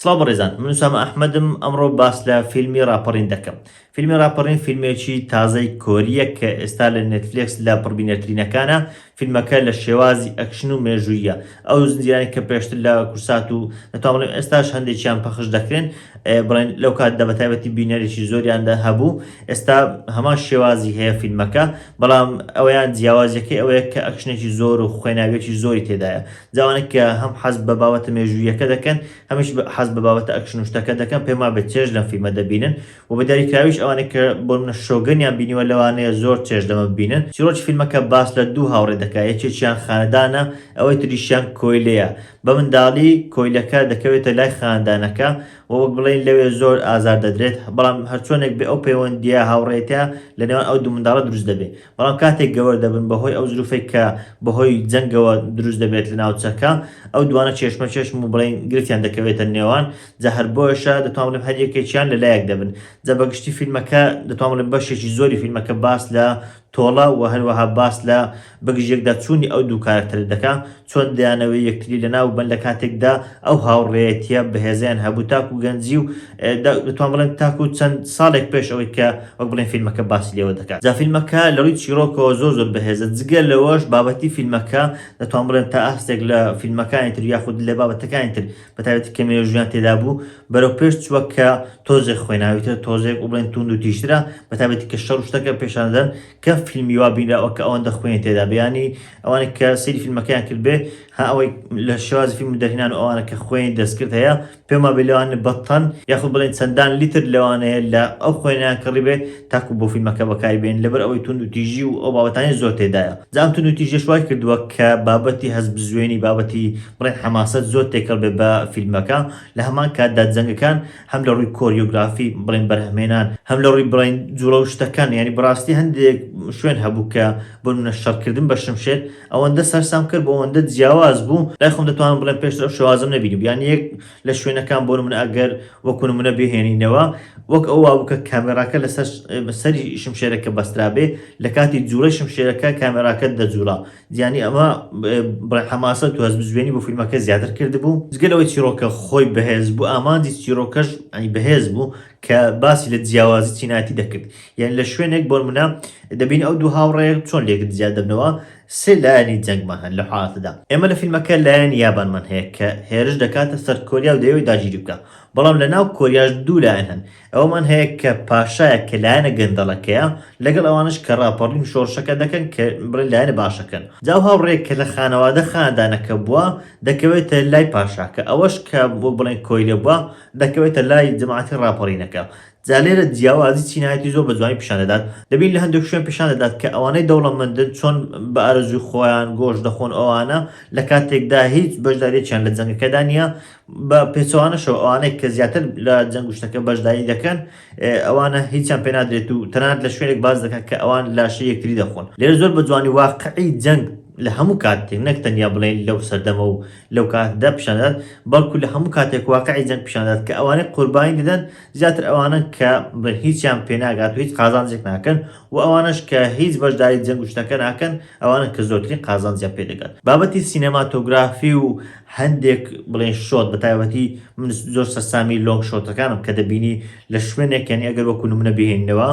سڵاو بەڕێزان من سامە ئەحمەدم ئەمڕۆ باس لە فیلمی راپەڕین دەکەم فیلمی راپەڕین فیلمێکی تازەی کۆریە کە ئێستا لە نێتفلێکس لە پڕبینەرترینەکانە فیلمەکە لە شێوازی ئەکشن و مێژوویە ئەو زنجیرانی کە پێشتر لە کورسات و نەتوانڵێم ئێستاش هەندێکیان پەخش دەکرێن بڵێن لەو کات دە بەتابەتی بینەرێکی زۆریاندا هەبوو ئێستا هەمان شێوازی هەیە فیلمەکە بەڵام ئەویان جیاوازەکەی ئەوەیە کە ئەکشنێکی زۆر و خوێناویەکی زۆری تێدایە جاوانەی کە هەم حەز بە بابەتە مێژووییەکە دەکەن هەمیش حەز بە بابەتە ئەکشن و شتەکە دەکەن پێم وابێت چێژ لەم فیلمە دەبینن و بە دیاریکراویش ئەوانەی کە بۆ نمونە شۆگەنیان بینیوە لەوانەیە زۆر چێژ لەمە ببینن چیرۆکی فیلمەکە باس لە دوو هاوڕێ دەکات یەکێکیان خانەدانە ئەوەی تریشیان کۆیلەیە بە منداڵی کۆیلەکە دەکەوێتە لای خانەدانەکە و وەک بڵێین لەوێ زۆر ئازار دەدرێت بەڵام هەرچۆنێک بێ ئەو پەیوەندییە هاوڕێیەتیە لە نێوان ئەو دوو منداڵە دروست دەبێت بەڵام کاتێک گەوەر دەبن بەهۆی ئەو زروفەی کە بەهۆی جەنگەوە دروست دەبێت لە ناوچەکە ئەو دوانە چێشمە چێشم و بڵێین گرفتیان دەکەوێتە نێوان جا هەر بۆیەشە دەتوان بڵێم هەر یەکێکیان لە لایەک دەبن جا بە گشتی فیلمەکە دەتوان بڵێم بەشێکی زۆری فیلمەکە باس لە تۆڵە و هەروەها باس لە بەگژیەکدا چوونی ئەو دوو کارەکتەرە دەکا چۆن دەیانەوێت یەکتری لەناو ببەن لە کاتێکدا ئەو هاوڕێیەتیە بەهێزەیان هەبوو تاکو گەنجی و دەتوان بڵێن تاکو چەند ساڵێک پێش ئەوەی کە وەک بڵێن فیلمەکە باسی لێوە دەکات جا فیلمەکە لە ڕووی چیرۆکەوە زۆر زۆر بەهێزە جگە لەوەش بابەتی فیلمەکە دەتوان بڵێن تا ئاستێک لە فیلمەکانی تر یاخود لە بابەتەکانی تر بە تایبەتی کە مێژوویان تێدا بوو بەرەو پێش چووە کە تۆزێک خوێناویترە تۆزێک و بڵێن توند و تیژترە بە تایبەتی کە شەڕ و شتەکە پێشان دەدەن کەم فیلمی وا بینراوە کە ئەوەندە خوێنی تێدا بێ یانی ئەوانەی کە سەیری فیلمەکەیان کردبێ ها ئەوەی لە شێوازی فیلم دەرهێنان و ئەوانە کە خوێنی دەستکرد هەیە پێم وابێ لەوانە بە تەن یاخود بڵێین چەندان لیتر لەوانەیە لە ئەو خوێنیان کڕیبێ تاکو بۆ فیلمەکە بەکاری بێنن لەبەر ئەوەی توندوتیژی و ئەو بابەتانەی زۆر تێدایە جا ئەم توندوتیژیەش وای کردووە کە بابەتی هەستبزوێنی بابەتی بڵێین حەماسەت زۆر تێکەڵ بێ بە فیلمەکە لە هەمان کاتدا جەنگەکان هەم لە ڕووی کۆریۆگرافی بڵێین بەرهەمهێنان هەم لە ڕووی بڵێین جووڵە و شتەکان یانی بەڕاستی هەندێک شوێن هەبوو کە بۆ نمونە شەڕکردن بە شمشێر ئەوەندە سەرسامکەر بوو، ئەوەندە جیاواز بوو، لای خۆم دەتوانم بڵێم پێشتر ئەو شێوازەم نەبینیبوو، یان یەک لە شوێنەکان بۆ نمونە ئەگەر وەکو نمونە بهێنینەوە وەک ئەو وابوو کە کامێراکە لەسەر سەری شمشێرەکە بەسترابێ لە کاتی جووڵەی شمشێرەکە کامێراکە دەجووڵا، یانی ئەمە بڵێ حەماسەت و هەستبزوێنی بۆ فیلمەکە زیاتر کردبوو، جگە لەوەی چیڕۆکە خۆی بەهێز بوو ئامانجی چیڕۆکەش بەهێز بوو کە باسی لە جیاوازی چینایەتی دەکرد. یان لە شوێنێک بۆنمونە دەبین ئەو دوو هاوڕێ چۆن لێکت زیاد دەبنەوە سێ لایەنی جەنگمان هەن لە حاڵەتەدا ئێمە لە فیلمەکە لایەنی یابانمان هەیە کە هێرش دەکاتە سەر کۆریا و دەیەوێت داگیری بکە بەڵام لە ناو کۆریاش دوو لایەن هەن ئەوەمان هەیە کە پاشایە کە لایەنە گەندەڵەکەیە لەگەڵ ئەوانش کە ڕاپەڕین و شۆڕشەکە دەکەن کە بڵێن لایەنە باشەکەن جاو هاوڕێ کە لە خانەوادە خاندانەکە بووە دەکەوێتە لای پاشاکە ئەوەش کە وەک بڵێن کۆیلە بووە دەکەوێتە لای جەماعەتی ڕاپەڕینەکە جا لێرە جیاوازی چینایەتی زۆر بە جوانی پیشان دەدات، دەبین لە هەندێک شوێن پیشان دەدات کە ئەوانەی دەوڵەمەندن چۆن بە ئارەزووی خۆیان گۆشت دەخۆن ئەوانە لە کاتێکدا هیچ بەشداریەکیان لە جەنگەکەدا نیە، بە پێچەوانەشەوە ئەوانەی کە زیاتر لە جەنگ و شتەکە بەشداری دەکەن ئەوانە هیچیان پێ نادرێت و تەنانەت لە شوێنێک باس دەکات کە ئەوان لاشەی یەکتری دەخۆن لێرە زۆر بە جوانی واقعی جەنگ لە هەموو کاتێک نەک تەنیا بڵێین لەو سەردەمە و لەو کاتەدا پیشان دەدات بەڵکو لە هەموو کاتێک واقعی جەنگ پیشان دەدات کە ئەوانەی قوربانی دەدەن زیاتر ئەوانەن کە بڵێن هیچیان پێناگات و هیچ قازانجێک ناکەن و ئەوانەش کە هیچ بەشداری جەنگ و شتەکە ناکەن ئەوانەن کە زۆرترین قازانجیان پێ دەگات بابەتی سینەماتۆگرافی و هەندێک بڵێن شۆت بە تایبەتی من زۆر سەرسامی لۆنگ شۆتەکانم کە دەبینی لە شوێنێک یانی ئەگەر وەکو نمونە بهێنینەوە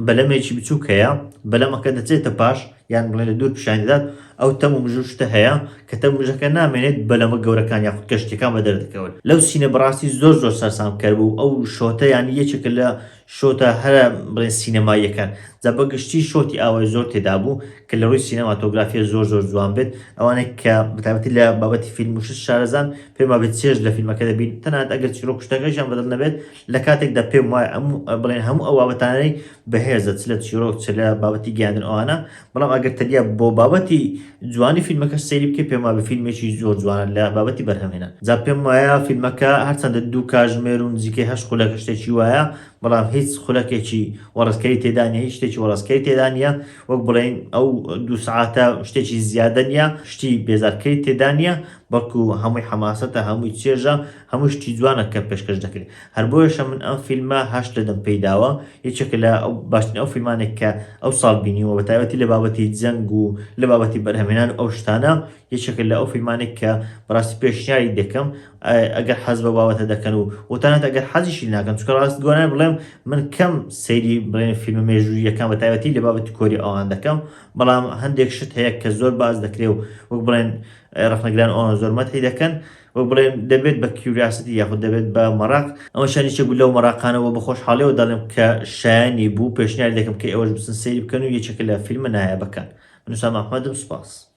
بەلەمێکی بچووک هەیە بەلەمەکە دەچێتە پاش یان بڵێن لە دوور پیشانی دەدات، ئەو تەم و مژو شتە هەیە کە تەم و مژەکە نامێنێت بەلەمە گەورەکان یاخود کەشتیەکان بەدەر دەکەون لەو سینە بەڕاستی زۆر زۆر سەرسام کەر بوو ئەو شۆتە یانی یەکێکە لە شۆتە هەرە بڵێن سینەماییەکان جا بەگشتی شۆتی ئاوای زۆر تێدابوو کە لە ڕووی سینەماتۆگرافیە زۆر زۆر جوان بێت ئەوانێک کە بەتابەتی لە بابەتی فیلم و شت شارەزان پێما بێت چێژ لە فیلمەکە دەبین تەنانەت ئەگەر چیرۆک شتەکەشیان بەدڵ نەبێت لە کاتێکدا پێم وایە ئەم بڵێن هەموو ئەو بابەتانەی بەهێزە چ لە چیرۆک چ لە بابەتی گەیاندن ئەوانە بەڵام ئەگەر تەنیا بۆ بابەتی جوانی فیلمەکە سەیری بکە پێم وابە فیلمێکی زۆر جوانە لە بابەتی بەرهەمێنە جا پێم وایە فیلمەکە هەرچەندە دوو کاژمێر و نزیکەی هەش خولەکە شتێکی وایە بەڵام هیچ خولەکێکی وەڕستکەری تێدانە هیچ شتێکی وەڕستکەری تێدانە وەک بڵین ئەو دوو سعاتە شتێکی زیادە نیە شتی بێزارکەری تێدانە بەڵکو هەمووی حەماسەتە هەمووی چێژە هەموو شتی جوانە کە پێشکەش دەکرێت هەر بۆیەشە من ئەم فیلمە هەشت لە دەم پێیداوە یەکێکە لە باشترین ئەو فیلمانێک کە ئەو ساڵ بینیوە بە تایبەتی لە بابەتی جەنگ و لە بابەتی بەرهەمێنان و ئەو شتانە یەکێکە لە ئەو فیلمانێک کە بەڕاستی پێشنیاری دەکەم ئەگەر حەز بە بابەتە دەکەن و وتانەت ئەگەر حەزیشی ناکەن چکە ڕاست گۆران بڵێم من کەم سەیری بڵێن فیلم مێژوویەکان بە تایبەتی لە بابەتی کۆری ئەوان دەکەم بەڵام هەندێک شت هەیە کە زۆر باز دەکرێ و وەک بڵێن ڕخنەگران ئەوان زۆر مەتی دەکەن وەک بڵێن دەبێت بە کیوریاسیتی یاخود دەبێت بە مەراق، ئەمە شان یەکێک بوو لەو مەراقانە وە بە خۆشحاڵیەوە دەڵێم کە شایەنی بوو، پێشنیار دەکەم کە ئێوەش بچن سەیری بکەن و یەکێکە لە فیلمە نایابەکان. من حسام احمد م سوپاس.